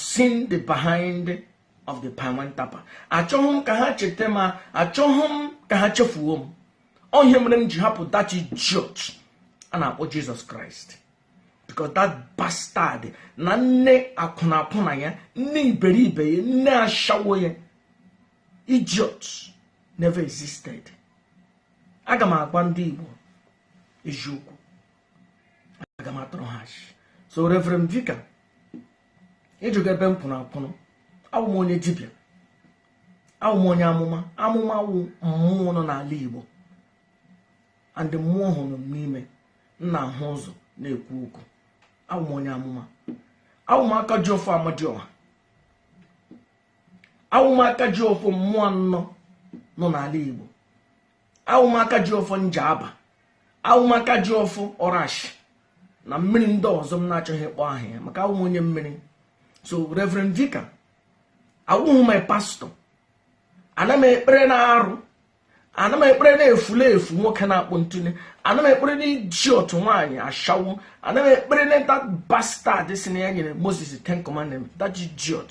seen the behind of the palm wine tapper achọghị m ka ha cheta m achọghị m ka ha chefuo m ọ ihe mere m ji hapụ that idiot a na-akpọ jesus christ because that bastard na nne akwụna akwụna ya nne iberibe ya nne ashawo ya idiot never existed aga m agwa ndị igbo eziokwu aga m atụrụ ha so reverend vicar ịjụga ebe m pụrụ apụrụ awụ m onye dibịa awụ m onye amụma amụma wụ mmụọ nọ n'ala igbo and mmụọ ahụ nọ m n'ime m na-ahụ ụzọ na-ekwu okwu awụ m onye amụma awụ m aka ji ọfọ amadioha awụ m aka ji ọfọ mmụọ anọ nọ n'ala igbo awụ m aka ji ọfọ njaba awụ m aka ji ọfọ ọrashi na mmiri ndị ọzọ m na-achọghị ịkpọ aha ya maka awụ m onye mmiri so reverend vicar awụghị my pastor ana m ekpere na arụ ana m ekpere na efulefu nwoke na-akpọ ntune ana m ekpere na idiot nwaanyị ashawo ana m ekpere na that bastard sị na ya nyere moses ten commandment that idiot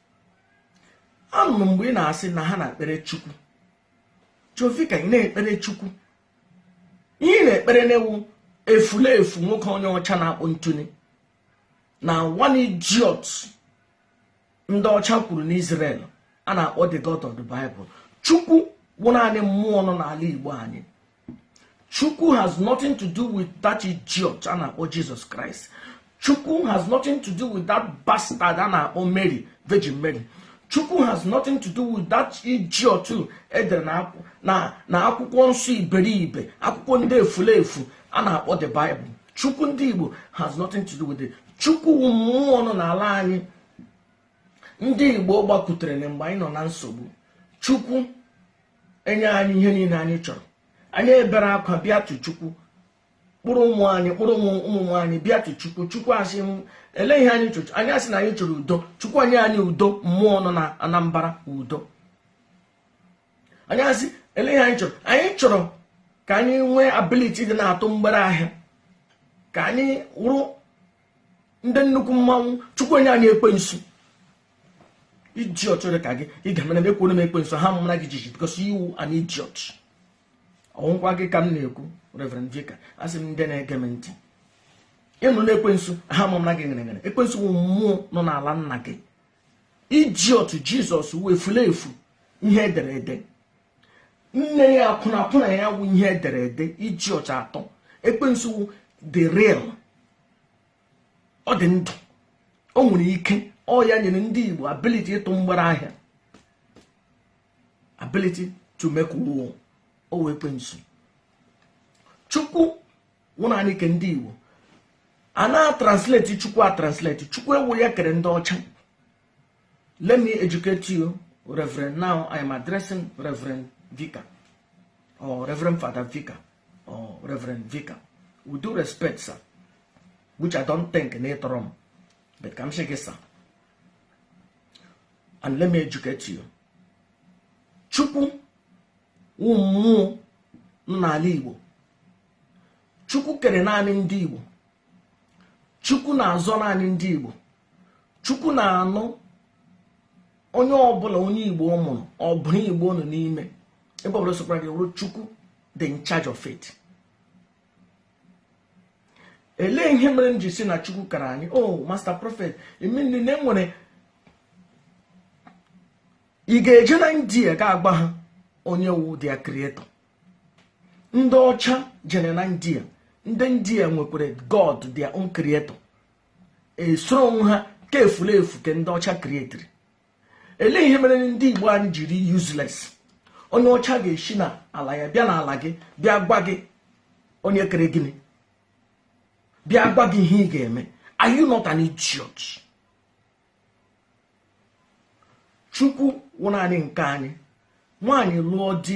anụrụ mgbe ị na-asị na ha na-ekpere chukwu so Vicar ị na-ekpere chukwu ihe ị na-ekpere na wụ efulefu nwoke onye ọcha na-akpọ ntune na one idiot ndị ọcha kwuru n'Israel a na-akpọ the God of the Bible chukwu wụ naanị mmụọ nọ n'ala Igbo anyị chukwu has nothing to do with that idiot a na-akpọ jesus christ chukwu has nothing to do with that bastard a na-akpọ mary virgin mary chukwu has nothing to do with that idiot edere na akwụkwọ nsọ iberibe akwụkwọ ndị efulefu a na-akpọ the bible chukwu ndị igbo has nothing to do with it chukwu wụ mmụọ nọ n'ala anyị ndị igbo gbakutere na mgbe anyị nọ na nsogbu chukwu enye anyị ihe niile anyị chọrọ anyị ebere akwa bịa tụ chukwu kpụrụ ụmụ anyị kpụrụ ụmụ anyị bịa tụ chukwu chukwu asị ele ihe anyị chọrọ anyị asị na anyị chọrọ udo chukwu enye anyị udo mmụọ nọ na anambra udo anyị asị ele ihe anyị chọrọ anyị chọrọ ka anyị nwee ability ị na-atụ mgbere ahịa ka anyị wụrụ ndị nnukwu mmanwụ chukwu enye anyị ekwensu idiot dị ka gị ị ga mere mekwuo m ekwensu ahụ amara gị jiji because you an idiot ọ wụkwa gị ka m na-ekwu Reverend Vicar asị m ndị na-ege m ntị ịnụ na ekwensu ahụ amara gị nyere nyere ekwensu wụ mmụọ nọ n'ala nna gị idiot Jesus wụ efulefu ihe edere ede nne ya akwụna akwụna ya wụ ihe edere ede idiot atọ ekwensu wụ the real ọ dị ndụ o nwere ike ọ ya nyere ndị Igbo ability ịtụ mgbere ahịa ability to make war ọ wụ ekwensu chukwu wụ naanị ke ndị Igbo a na-atransleti chukwu atransleti chukwu awụ ya kere ndị ọcha Let me educate you, Reverend. Now I am addressing Reverend Vicar or Reverend Father Vicar or Reverend Vicar. With due respect, sir, which I don't think na ị tọrọ m, but ka m sị gị sir. And let me educate you. Chukwu wụ mmụọ n'ala Igbo. Chukwu kere naanị ndị Igbo. Chukwu na-azọ naanị ndị Igbo. chukwu na-anụ onye ọbụla onye igbo mụrụ ọ bụrụ igbo nọ n'ime ebe ọbụla sokwara gị wụrụ chukwu dị in charge of it elee ihe mere m ji si na chukwu kara anyị o oh, master prophet i mean na enwere ị ga-eje na india ga-agwa ha onye wụ their creator ndị ọcha jere na india ndị india nwekwara god their own creator esoro onwe ha ka efulefu ke ndị ọcha krietiri ele ihe mere ndị igbo anyị jiri useless onye ọcha ga-eshi na ala ya bịa n'ala gị bịa gwa gị onye kere gịnị bịa gwa gị ihe ị ga-eme are you not an idiot chukwu wụ naanị nke anyị nwaanyị lụọ di